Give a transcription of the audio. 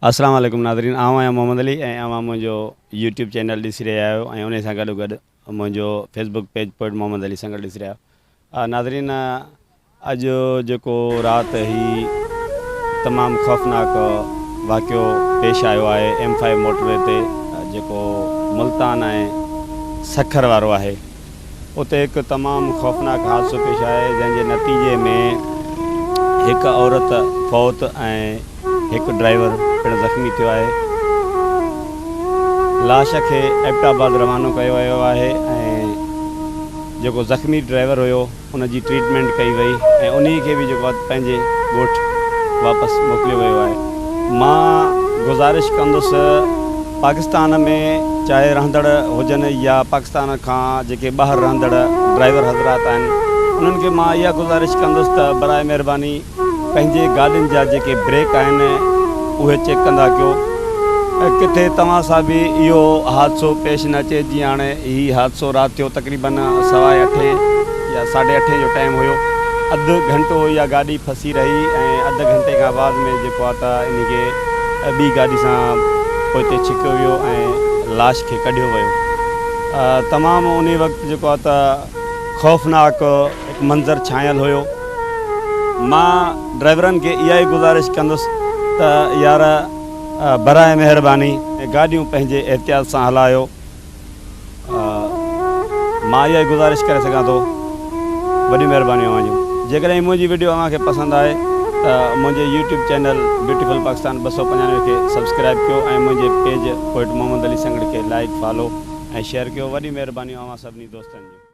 السلام عليڪم ناظرين آئون آهيان محمد علي ۽ اوهان منهنجو يوٽيوب چينل ڏسي رهيا آهيو ۽ انهي سان گڏو گڏ منهنجو Facebook page poet Muhammad Ali Sanghar ڏسي رهيا آهيو ناظرين اڄ جيڪو رات هي تمام خوفناڪ واقعو پيش آيو آهي ايم فائيو موٽر وي تي جيڪو ملتان ۽ سکر وارو آهي اتي هڪ تمام خوفناڪ حادثو پيش آيو جنهن جي نتيجي ۾ هڪ عورت فوت ۽ هڪ ڊرائيور پڻ زخمي ٿيو آهي. لاش کي ايبٽ آباد روانو ڪيو ويو آهي ۽ جيڪو زخمي ڊرائيور هيو. ان جي ٽريٽمينٽ ڪئي وئي ۽ انهي کي به جيڪو آهي پنهنجي ڳوٺ واپس موڪليو ويو آهي مان گذارش ڪندس پاڪستان ۾ چاهي رهندڙ هجن يا پاڪستان کان جيڪي ٻاهر رهندڙ ڊرائيور حضرات آهن انهن کي مان اها گذارش ڪندس ته برائي مهرباني پنهنجي گاڏين جا جيڪي بريڪ آهن اهي چيڪ ڪندا ڪيو ۽ ڪٿي توهان سان به اهو حادثو پيش نه اچي جيئن هاڻي هي حادثو رات ٿيو تقريباً سوا اٺين يا ساڍي اٺين جو ٽائيم هيو اڌ گهنٽو اها گاڏي ڦسي رهي ۽ اڌ گهنٽي کان بعد ۾ جيڪو آهي ته انهي کي ٻي گاڏي سان پوئتي ڇڪيو ويو ۽ لاش کي ڪڍيو ويو تمام انهي وقت جيڪو آهي ته خوفناڪ هڪ منظر ڇانيل هيو. مان ڊرائيورن کي اها ئي گذارش ڪندس ته يار براء مهرباني گاڏيون پنهنجي احتياط سان هلايو. مان اها ئي گذارش ڪري سگهان ٿو. وڏيون مهربانيون اوهان جون. جيڪڏهن منهنجي وڊيو اوهان کي پسند آهي ته منهنجي يوٽيوب چينل بيوٽيفل پاڪستان ٻه سؤ پنجانوي کي سبسڪرائيب ڪيو ۽ منهنجي پيج پوئٽ محمد علي سنگهڙ کي لائيڪ، فالو ۽ شيئر ڪيو. وڏيون مهربانيون اوهان سڀني دوستن جون.